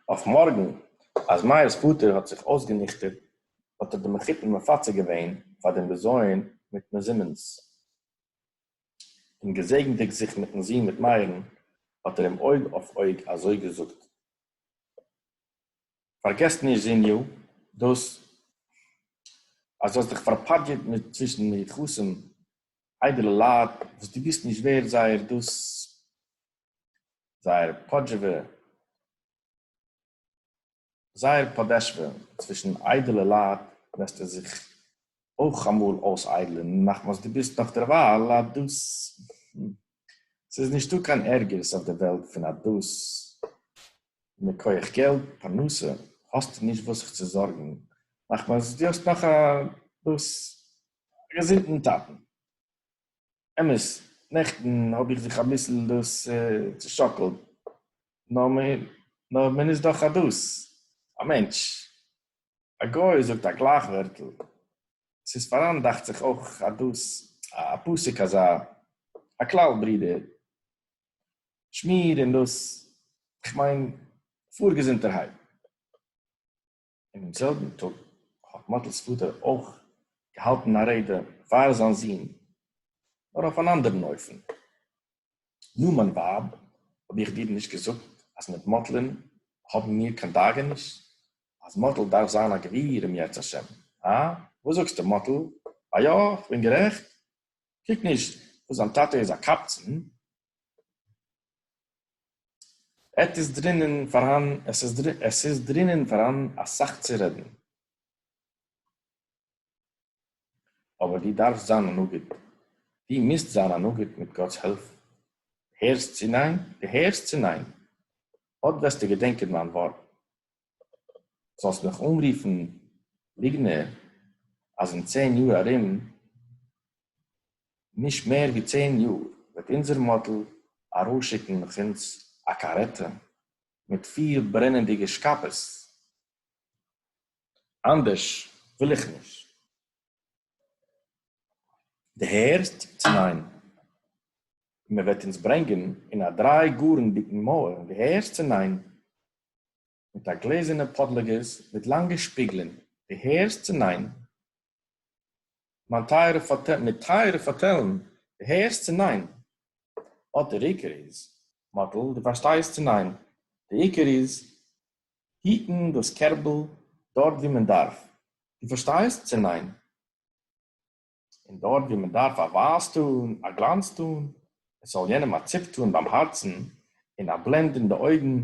אויף מארגן, אז מאיר'ס פאטער האט זיך אויסגעניכטערט, האט ער די מחותן מפצה געווען פאר דעם בזיון מיט מזומן'ס. און געזעגנדיג זיך מיט'ן זון מיט מאיר'ן, האט ער אים אויג אויף אויג אזוי געזאגט, פארגעס נישט זוניו, דאס אז דו האסט דיך פארפאדזשעט מיט צווישן מיוחסים איידעלע לייט וואס דו ביסט נישט ווערד זייער דאס זייער פאדזשעווע זייער פאדעשווע צווישן איידעלע לייט וועסטו זיך אויך אמאל אויסאיידלען מחמת דו ביסט נאך דערווייל א דאס ס'איז נישטא קיין ערגערס אויף דער וועלט פון א דאס מכח געלט פרנסה האסטו נישט וואס זיך צו זארגן מחמת דו האסט נאך א דאס א געזונטן טאטן. אמת, נעכטן האב איך זיך אביסל דאס צושאקלט, נאר מען איז דאך א דאס, א מענטש. א גוי זאגט א גלייך ווערטל. עס איז פאראן דאכט זיך אויך א דאס, א פסוק אזא, א כלל ברודער, שמיר און דאס, איך מיין פאר געזונטערהייט. אינעם זעלבן טאג האט מאטל'ס פאטער אויך געהאלטן א רעדע פאר זיין זון, נאר אויף אן אנדערן אופן. נו, מיין ווייב, האב איך דיר נישט געזאגט אז מיט מאטל'ן האבן מיר קיין דאגה נישט? אז מאטל דארף זיין א גביר אם ירצה השם, הא? וואס זאגסטו, מאטל? א יא? כ'בין גערעכט? קוק נישט וואס זיין טאטע איז א קבצן, עט איז דרינען פארהאן, עס איז דרין, עס איז דרינען פארהאן אסאך צו רעדן. אבער דו דארפסט זיין א נגיד. דו מוזט זיין א נגיד מיט גאט'ס הילף. הערסט צו ניין? דו הערסט צו ניין? אט וועסטו געדענקען מיין ווארט. זאלסט מיך אנרופן ליגנער אז אין צען יאר ארום, נישט מער ווי צען יאר, וועט אונזער מאדעל ארויסשיקן מיט אונז א קארעטע מיט פיר ברענענדיגע שקאפעס, אנדערש וויל איך נישט. דו הערסט צו ניין? און מען וועט אונז ברענגען אין א דריי גארנדיגן מויל, דו הערסט צו ניין? מיט א גלעזערנע פאדלאגעס מיט לאנגע שפיגלען, די הערסט צו ניין? מיין טייערע פאטעל מיט טייערע פאטעלן, די הערסט צו ניין? אט דער עיקר איז, מאטל, די פארשטייסט צו ניין? די עיקר איז, היטן דאס קערבל דארט ווי מען דארף, די פארשטייסט צו ניין? און דאָרט, װוּ מע דאַרף אַ װײַז טאָן, אַ גלאַנץ טאָן, עס זאָל יענעם אַ ציפּ טאָן בײַם האַרצן און אַ בלענד אין די אױגן,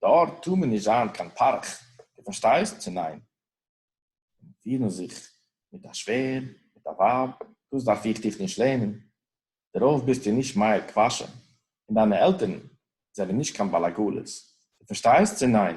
דאָרט טאָר מען נישט זײַן קײן פּאַרך, דו פֿאַרשטײסט, צי נײן? און פֿירן זיך מיט אַ שװער, מיט אַ װײַב, דאָס דאַרף איך דיך נישט לערנען. דערױף ביסטו נישט מאיר קװאַשע, און דײַנע עלטערן זענען נישט קײן באַלאַגאָלעס, דו פֿאַרשטײסט, צי נײן?